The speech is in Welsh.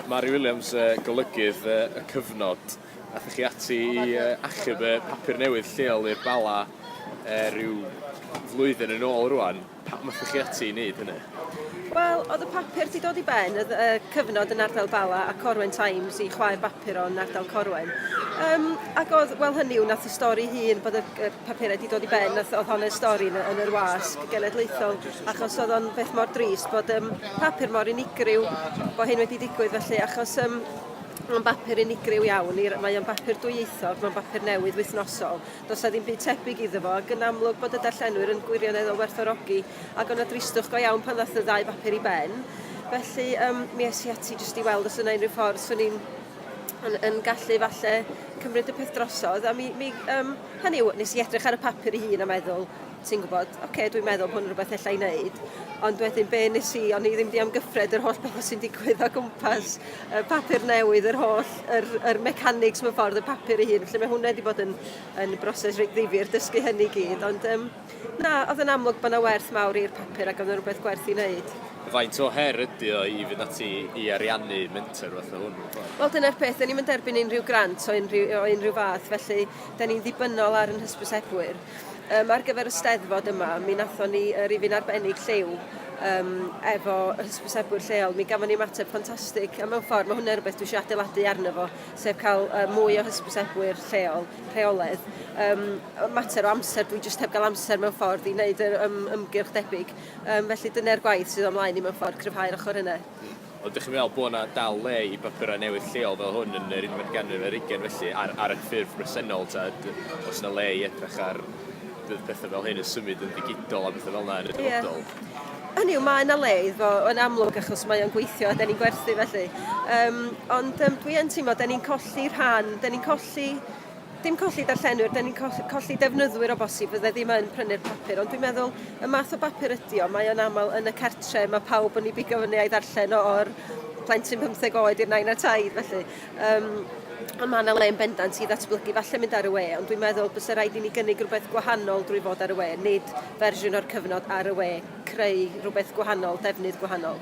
Mari Williams, golygydd y cyfnod, athych chi ati i achub y papur newydd lleol i'r Bala rhyw flwyddyn yn ôl rwan. Pam athych chi ati i wneud hynny? Wel, oedd y papur di dod i ben, oedd y cyfnod yn ardal Bala a Corwen Times i chwaer bapur o'n ardal Corwen. Um, ac oedd, wel hynny yw, nath y stori hun bod y, y papurau di dod i ben, nath, oedd hon y stori yn, yn yr wasg genedlaethol, achos oedd o'n beth mor dris bod um, papur mor unigryw bod hyn wedi digwydd felly achos um, mae'n bapur unigryw iawn, mae o'n bapur dwyieithog, mae'n bapur newydd wythnosol. Does na ddim byd tebyg iddo fo, ac yn amlwg bod y darllenwyr yn gwirioneddol werthorogi, ac o'na dristwch go iawn pan ddath y ddau bapur i ben. Felly, um, mi es i ati jyst i weld os yna unrhyw ffordd swn i'n yn, yn gallu falle cymryd y peth drosodd, a mi, mi um, hynny yw, nes i edrych ar y papur i hun a meddwl, ti'n gwybod, ok, dwi'n meddwl hwn rhywbeth ella i wneud, ond wedyn be nes i, o'n i ddim di amgyffred yr holl beth sy'n digwydd o gwmpas y papur newydd, yr holl, yr, yr mechanics mewn ffordd, y papur ei hun, felly mae hwnna wedi bod yn, yn broses reit ddifur, dysgu hynny gyd, ond um, na, oedd yn amlwg bod yna werth mawr i'r papur ac oedd yna rhywbeth gwerth i wneud. Faint o her ydy o i fynd ati i ariannu menter fath o hwn? Wel, dyna'r peth, da ni'n mynd erbyn unrhyw grant o unrhyw, o unrhyw fath, felly da ni'n ddibynnol ar yn hysbysebwyr. Yym ar gyfer y Steddfod yma mi nathon ni yy rifyn arbennig lliw yym efo y hysbysebwyr lleol mi gafon ni ymateb ffantastig a mewn ffor ma' hwnne rwbeth dwi isio adeiladu arno fo sef ca'l yy mwy o hysbysebwyr lleol rheoledd yym yy mater o amser dwi jyst heb ga'l amser mewn ffordd i neud yr yym ymgyrch debyg yym felly dyne'r gwaith sydd o'm mlaen i mewn ffordd cryfhau'r ochor yne. Ond dych chi'n meddwl bod yna dal le i bapurau newydd lleol fel hwn yn yr unfed ganrif ar ugain felly, ar, ar y ffurf bresennol, ta oes yna le i edrych ar bydd pethau fel hyn yn symud yn ddigidol a pethau fel yna yn y dyfodol? Yeah. Hynny yw, mae yna le iddo yn amlwg achos mae o'n gweithio a da ni'n gwerthu felly. Um, ond um, dwi yn teimlo, da ni'n colli rhan, da ni'n colli dim colli darllenwyr, da ni'n colli defnyddwyr o bosib fydde ddim yn prynu'r papur, ond dwi'n meddwl y math o bapur ydy o, mae o'n aml yn y cartre, mae pawb yn ei bigo fyny a'i ddarllen o'r plentyn 15 oed i'r nain a taid, felly. Um, ond mae yna le yn bendant i ddatblygu falle mynd ar y we, ond dwi'n meddwl bys y rhaid i ni gynnig rhywbeth gwahanol drwy fod ar y we, nid fersiwn o'r cyfnod ar y we, creu rhywbeth gwahanol, defnydd gwahanol.